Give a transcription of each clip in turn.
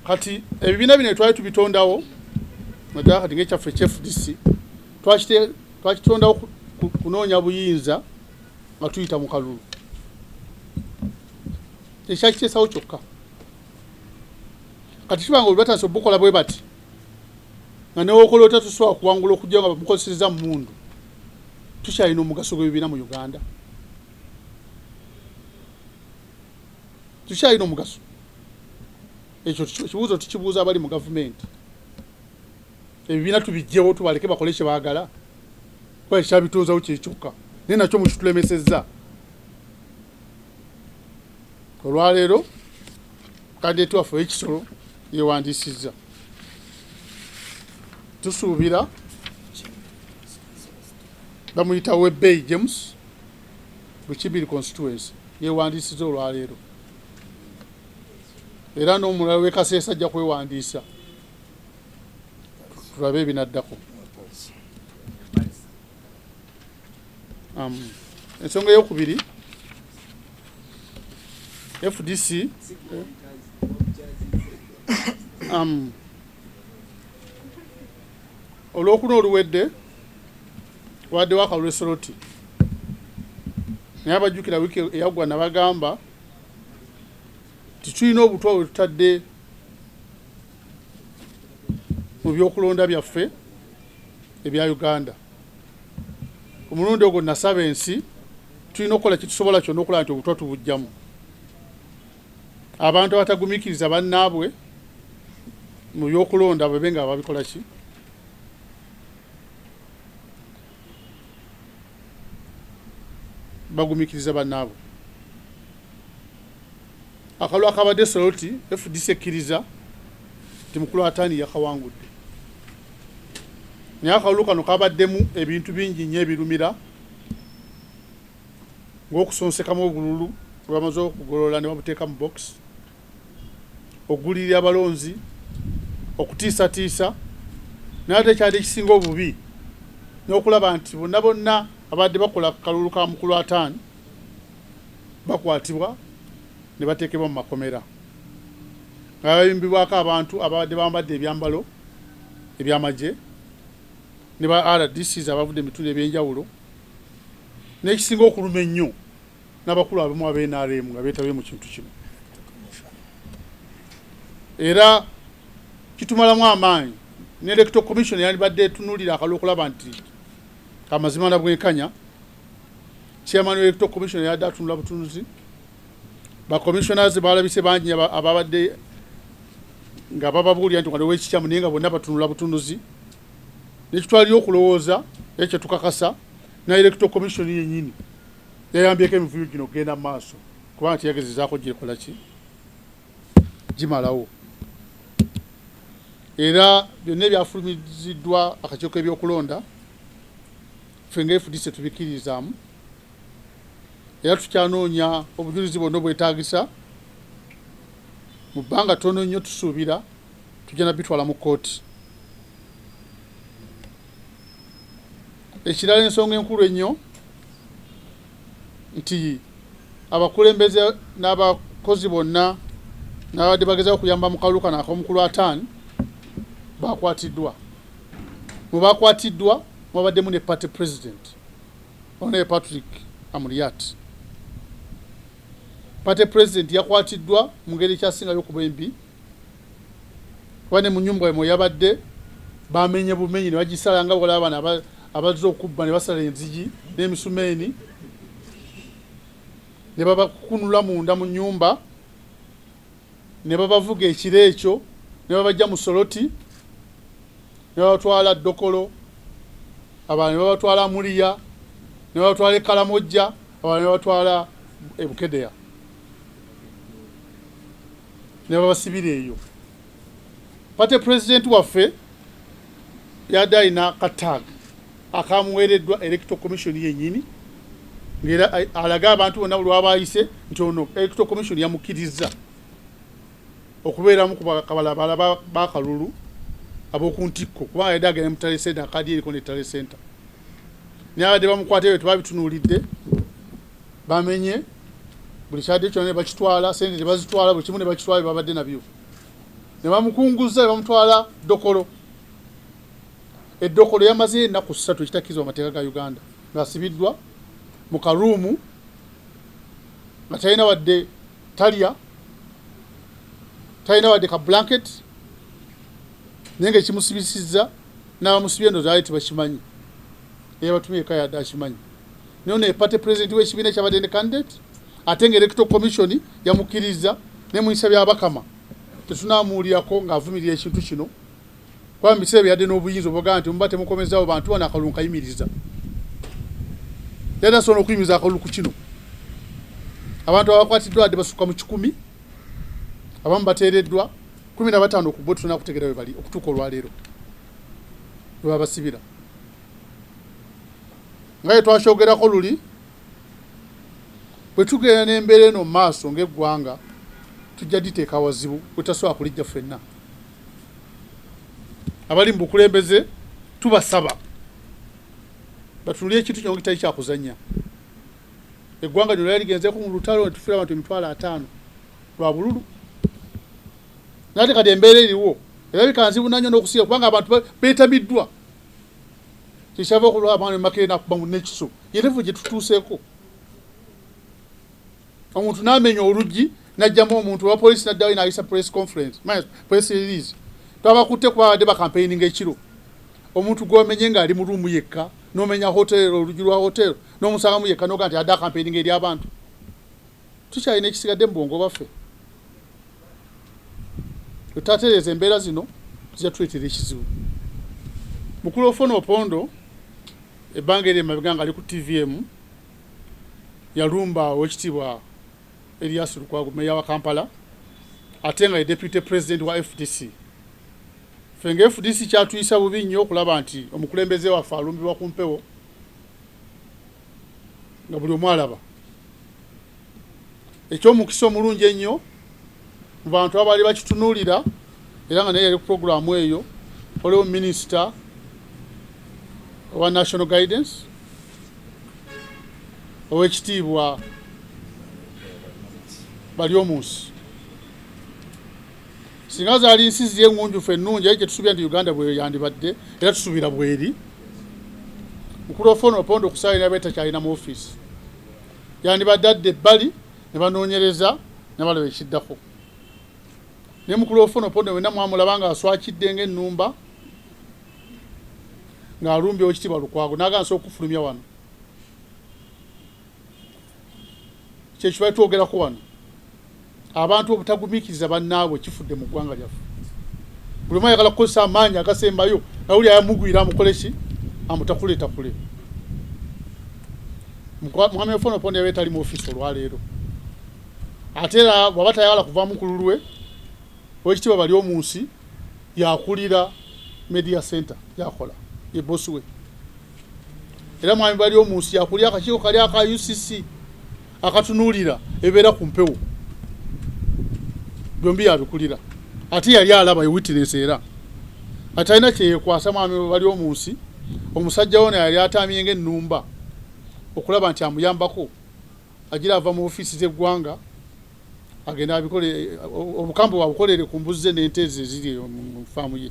kati ebibiina bino twali tubitondawo naddala kati ngaekyaffe ekyefdc twakitondawo kunoonya buyinza nga tuyita mu kalulu ekyakiteesawo kyokka kati kiba nga buli batandisa obukola bwe bati nga newokola otya tosobola kuwangula okujja nga bamukozeseza mundu tukyalina omugaso gwebibiina mu uganda tukyalina omugaso ekyo kibuuzo tukibuuza abali mu gavumenti ebibiina tubijjewo tubaleke bakole kyebagala kuba ekyabitunzawo kyekyokka naye nakyo mukitulemesezza olwaleero kadeti waffe wekisolo yewandiisizza tusuubira bamuyita webbeyi james bukibiri constituency yewandiisiza olwaleero era n'omulala wekaseesa ajja kwewandiisa tulabe ebinaddako um, ensonga eyokubiri fdc um, olwokuna oluwedde waddewo akalwesoloti naye abajjukira wiiki eyaggwa nabagamba titulina obutwa bwe tutadde mu byokulonda byaffe ebya uganda ku mulundi ogwo nasaba ensi tulina okukola kitusobola kyonna okulaba nti obutwa tubujjamu abantu abatagumikiriza bannaabwe mu byokulonda bwebe nga babikola ki bagumikiriza bannaabwe Akalulu akabadde Soroti, fdc ekkiriza nti Mukulu Ataani yakawangudde. Naye akalulu kano kabaddemu ebintu bingi nnyo ebirumira ng'okusonsekamu obululu bwe bamaze okugolola ne babuteeka mu box, okugulirira abalonzi, okutiisatiisa naye ate ekyali ekisinga obubi n'okulaba nti bonna bonna abadde bakola ku kalulu ka Mukulu Ataani bakwatibwa ne bateekebwa mu makomera nga bayimbibwako abantu ababadde bambadde ebyambalo eby'amagye ne ba RDCs abavudde mu bitundu eby'enjawulo n'ekisinga okuluma ennyo n'abakulu abamu aba NRM nga beetabye mu kintu kino era kitumalamu amaanyi ne electoral commission yandibadde etunuulira akalwa okulaba nti amazima na bwenkanya chairman electoral commission yadde atunula butunuzi ba commissioners balabise bangi ababadde nga bababuulira nti waliwo ekikyamu naye nga bonna batunula butunuzi nekitwalira okulowooza naye kyetukakasa na electoral commission yenyini yayambyeko emivuyo gino okugenda mu maaso kubanga teyagezezaako gyekola ki gimalawo era byonna ebyafulumiziddwa akakiiko k'ebyokulonda Ffe nga FDC tetubikkiririzaamu era tukyanoonya obujulizi bwonna obwetaagisa. Mu bbanga ttono nnyo tusuubira tujja na bitwala mu kkooti. Ekirala ensonga enkulu ennyo nti abakulembeze n'abakozi bonna n'abadde bagezaako okuyamba mu kalulu kano ak'omukulu ataani baakwatiddwa. Mu baakwatiddwa mwabaddemu ne Party President Hon. Patrick Amuriat. Party President yakwatiddwa mu ngeri ekyasingayo okuba embi kuba ne mu nnyumba we mwe yabadde bamenye bumenyi ne bagisala nga bwolaba bano abazze okubba ne basala enzigi n'emisumeeni ne babakunula munda mu nnyumba ne babavuga ekiro ekyo ne babajja mu Soroti ne babatwala Dokolo abalala ne babatwala Muliya ne babatwala e Kalamojja abalala ne babatwala e Bukedea ne babasibira eyo pate pulezidenti waffe yadde alina kataaga akamuweereddwa Electoral Commission yennyini ng'era alage abantu bonna lwaba ayise nti ono Electoral Commission yamukkirizza okubeeramu ku bakabalabala b'akalulu ab'oku ntikko kubanga yadde agenda mu tale center akaadi eriko ne tale center nabadde bamukwata ebyo tebabitunuulidde bamenye buli kyadde kyona ne bakitwala sente ne bazitwala buli kimu ne bakitwala bye babadde nabyo ne bamukunguza ne bamutwala dokolo Edokolo yamazeyo ennaku ssatu ekitakkirizibwa mateeka ga Uganda ng'asibiddwa mu karuumu nga talina wadde talya talina wadde ka blanket naye ngaekimusibisizza n'abamusibye ndo zaali tebakimanyi eyabatumye eka yadde akimanyi naye ono epate pulezidenti w'ekibiina ekyabadde ne candidate ate nga electoral commission yamukkirizza ne muyisa byabakama tetunamuwulirako ng'avumirira ekintu kino kuba mu biseera ebyo yadde n'obuyinza obwogamba nti muba temukomezaawo bantu bano akalulu nkayimiriza yadde asobola okuyimiriza akalulu ku kino abantu abakwatiddwa adde basukka mu kikumi abamu bateereddwa kumi na bataano ku bo tulina kutegera we bali okutuuka olwaleero we babasibira nga ye twakyogerako luli bwe tugenda n'embeera eno mu maaso ng'eggwanga tujja diteeka wazibu wetasobola kulijja ffenna abali mu bukulembeze tubasaba batunulire ekintu kino kitali kyakuzanya eggwanga lyo lyali ligenzeko mu lutalo netufiira abantu emitwalo ataano lwa bululu nate kati embeera eriwo era bikanzibu nanyo nokusiira kubanga abantu betamiddwa kyekyava okulwa abaana emakerena kuba mu nekiso yerevu gyetutuuseeko omuntu n'amenya oluggi n'ajjamu omuntu owa poliisi n'addayo n'ayisa press conference press release twabakutte kuba abadde bakampeininga ekiro omuntu gw'omenye ng'ali mu ruumu yekka n'omenya hotel oluggi lwa hotel n'omusangamu yekka n'oga nti adde akampeininga eri abantu tukyalina ekisigadde mu bwongo baffe tutatereeza embeera zino zijja tuleetera ekizibu mukulu ofona opondo ebbanga eri emabega nga ali ku tvm yalumba Owekitiibwa Erias Lukwago Meeya wa Kampala ate nga ye Deputy President wa fdc. Ffe nga fdc kyatuyisa bubi nnyo okulaba nti omukulembeze waffe alumbibwa ku mpewo nga buli omu alaba. Eky'omukisa omulungi ennyo mu bantu abaali bakitunuulira era nga naye yali ku pulogulaamu eyo waliwo minisita owa national guidance owekitiibwa bali omunsi singa zaali nsi ziri engunjufu ennungi aye kyetusubira nti uganda bweyandibadde era tusubira bweri mukulu ofona opondo okusaalira betakyalina mu ofiisi yandibadde adde ebbali ne banoonyereza ne balaba ekiddako ne mukulu ofono pone wena mwamulaba nga aswakidde nga ennumba ng'alumbye okitiibwa lukwago nagansa okufulumya wano kyekyo bali twogerako wano abantu obutagumikiriza bannaabwe kifudde mu ggwanga lyaffe buli omu ayagala kukozesa amaanyi agasembayo nawuli ayamugwira amukoleki amutakuletakule Mwami Ofono Opondo yabadde tali mu ofiisi olwaleero ate era bw'aba tayagala kuva mukulu lwe owekitiibwa bali omu nsi yakulira media center yakola ye bosi we era mwami bali omu nsi yakulira akakiiko kali aka ucc akatunuulira ebeera ku mpewo byombi yabikulira ate yali alaba ye witness era atalina kyeyekwasa mwami bali omu nsi omusajja wona yali atamye ng'ennumba okulaba nti amuyambako agira ava mu ofiisi z'eggwanga agenda abikole obukambwe wabukolere ku mbuzze n'ente ezo eziri mu faamu ye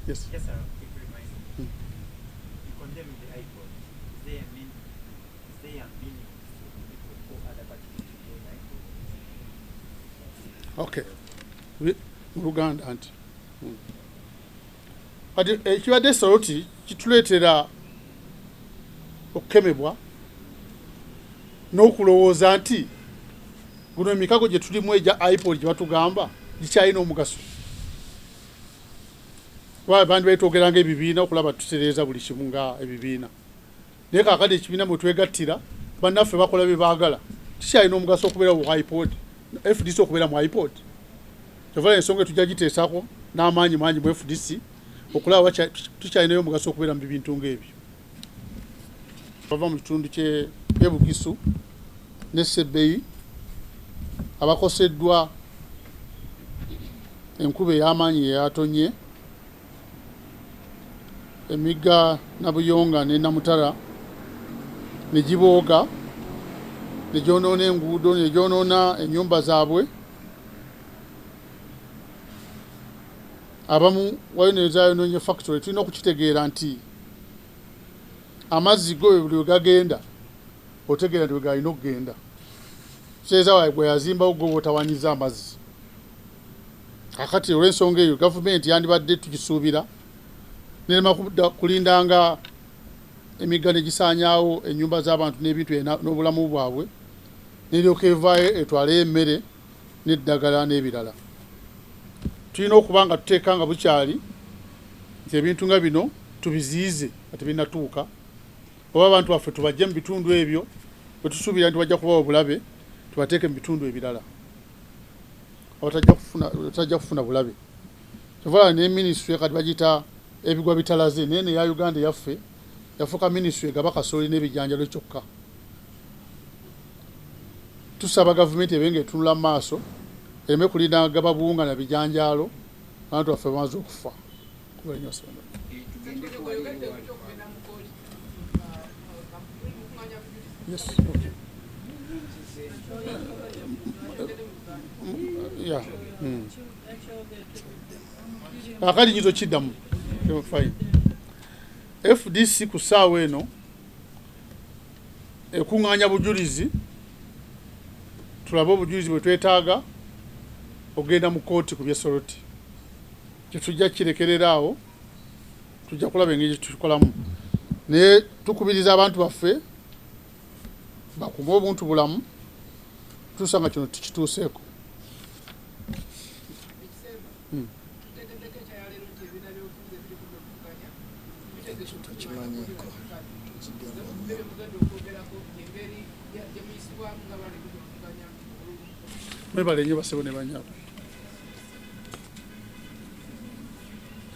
yes. yes okay mu luganda nti hmm. kati ekibadde saloti kituleetera okukemebwa n'okulowooza nti guno emikago gye tulimu egya ipol gye batugamba gikyalina omugaso bandi baitwogeranga ebibiina okulaba tutereeza buli kimu nga ebibiina naye kakati ekibiina mwe twegattira bannaffe bakola bye baagala kikyalina omugaso okubeera mu ipod fdc okubeera mu ipod kyovala ensonga etujja giteesako n'amaanyi mangi mu fdc okulaba tukyalinayo omugaso okubeera mu bibintu ng'ebyo bava mu kitundu kyebugisu ne sebbeyi abakoseddwa enkuba ey'amaanyi yeyatonye Emigga Nabuyonga ne Namutara ne gibooga ne gyonoona enguudo ne gyonoona ennyumba zaabwe abamu waliwo nezayonoonye factory tulina okukitegeera nti amazzi go buli wegagenda otegeera nti wegalina okugenda seeza wae gweyazimbawo gwe wotawanyiza amazzi Kakati olw'ensonga eyo gavumenti yandibadde tugisuubira nerema kudda kulinda nga emigga ne gisaanyaawo ennyumba z'abantu n'ebintu n'obulamu bwabwe neryoka evaayo etwaleyo emmere n'eddagala n'ebirala tulina okuba nga tuteeka nga bukyali nti ebintu nga bino tubiziyize nga tebinatuuka oba abantu baffe tubajje mu bitundu ebyo bwe tusuubira nti bajja kubawo obulabe tubateeke mu bitundu ebirala otajja kufuna bulabe kyovala ne minisitule kati bagiyita ebigwa bitalaze naye neya uganda yaffe yafuuka minisitule egaba kasooli n'ebijanjalo kyokka tusaba gavumenti ebe nga etunula maaso ereme kulinda gaba buwunga na bijanjaalo abantu baffe bamaze okufa Yes. Okay. Yeah. Mm. akali nyizo kiddamu fine fdc ku ssaawa eno ekuŋŋaanya bujulizi tulabe obujulizi bwe twetaaga okugenda mu kooti ku byesoloti Ekyo tujja kirekerera awo, tujja kulaba engeri gye tukikolamu, naye tukubiriza abantu baffe bakume obuntu bulamu tusa nga kino tukituuseeko. Hmm. Mwebale nnyo basebo ne banyabo.